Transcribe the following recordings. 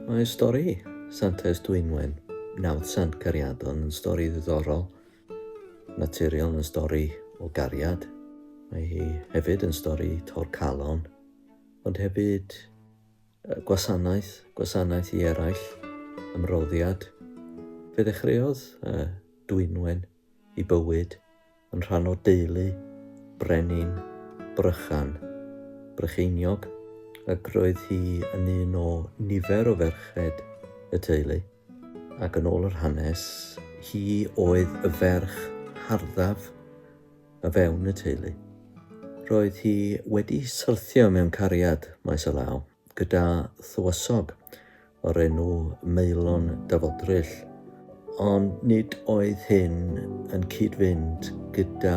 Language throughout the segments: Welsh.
Mae stori Santes Dwynwen, nawdd Sant Cariadon, yn stori ddiddorol, naturiol yn stori o gariad. Mae hi hefyd yn stori torcalon, ond hefyd gwasanaeth, gwasanaeth i eraill, ymroddiad. Fe ddechreuodd Dwynwen i bywyd yn rhan o deulu brenin Brychan, Brycheiniog, ac roedd hi yn un o nifer o ferched y teulu, ac yn ôl yr hanes, hi oedd y ferch harddaf o fewn y teulu. Roedd hi wedi syrthio mewn cariad maes o law. gyda thywysog o'r enw Maelon Dyfodryll, ond nid oedd hyn yn cyd-fynd gyda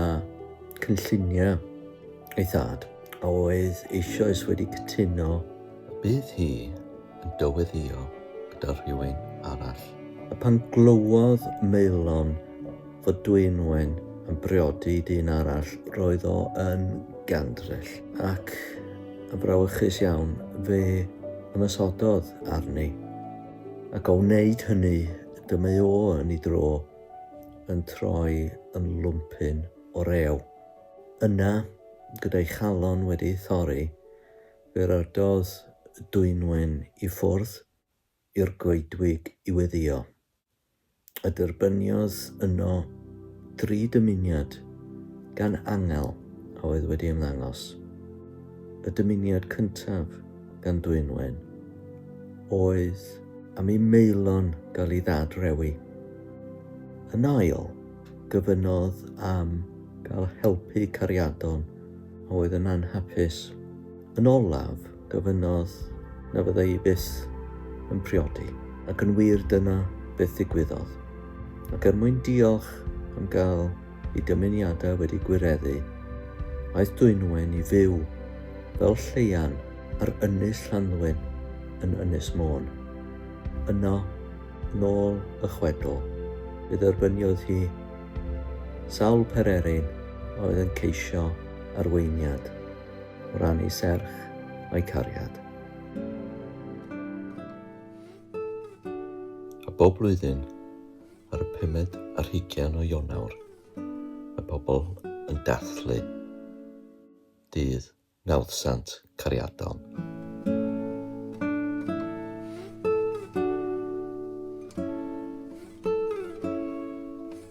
chynlluniau ei thad, a oedd eisoes wedi cytuno y bydd hi yn dyweddïo gyda rhywun arall. A phan glywodd Maelon fod Dwynwen yn briodi dyn arall, roedd o yn gandryll, ac yn frawychus iawn, fe ymosododd arni, ac o wneud hynny, dyma o yn ei dro, yn troi yn lwmpyn o rew. Yna, gyda'i chalon wedi ei thorri, fe ryddodd Dwynwen i ffwrdd, i'r goedwig i weddïo, a derbyniodd yno dri dymuniad gan angel a oedd wedi ymddangos. Y dymuniad cyntaf gan Dwynwen oedd. Am i Maelon gael ei ddad-rewi. Yn ail, gofynnodd am gael helpu cariadon a oedd yn anhapus. Yn olaf, Gofynnodd na fydda i byth yn priodi, ac yn wir dyna beth ddigwyddodd. Ac er mwyn diolch am gael ei dymuniadau wedi gwireddu, aeth Dwynwen i fyw fel lleian ar Ynys Llanddwyn yn Ynys Môn. Yno, yn ôl y chwedl, fe dderbyniodd hi sawl pererin a oedd yn ceisio arweiniad. o ran eu serch a'u cariad. A bob blwyddyn, ar y pumed ar hugain o Ionawr, mae pobl yn dathlu dydd Nawddsant Cariadon.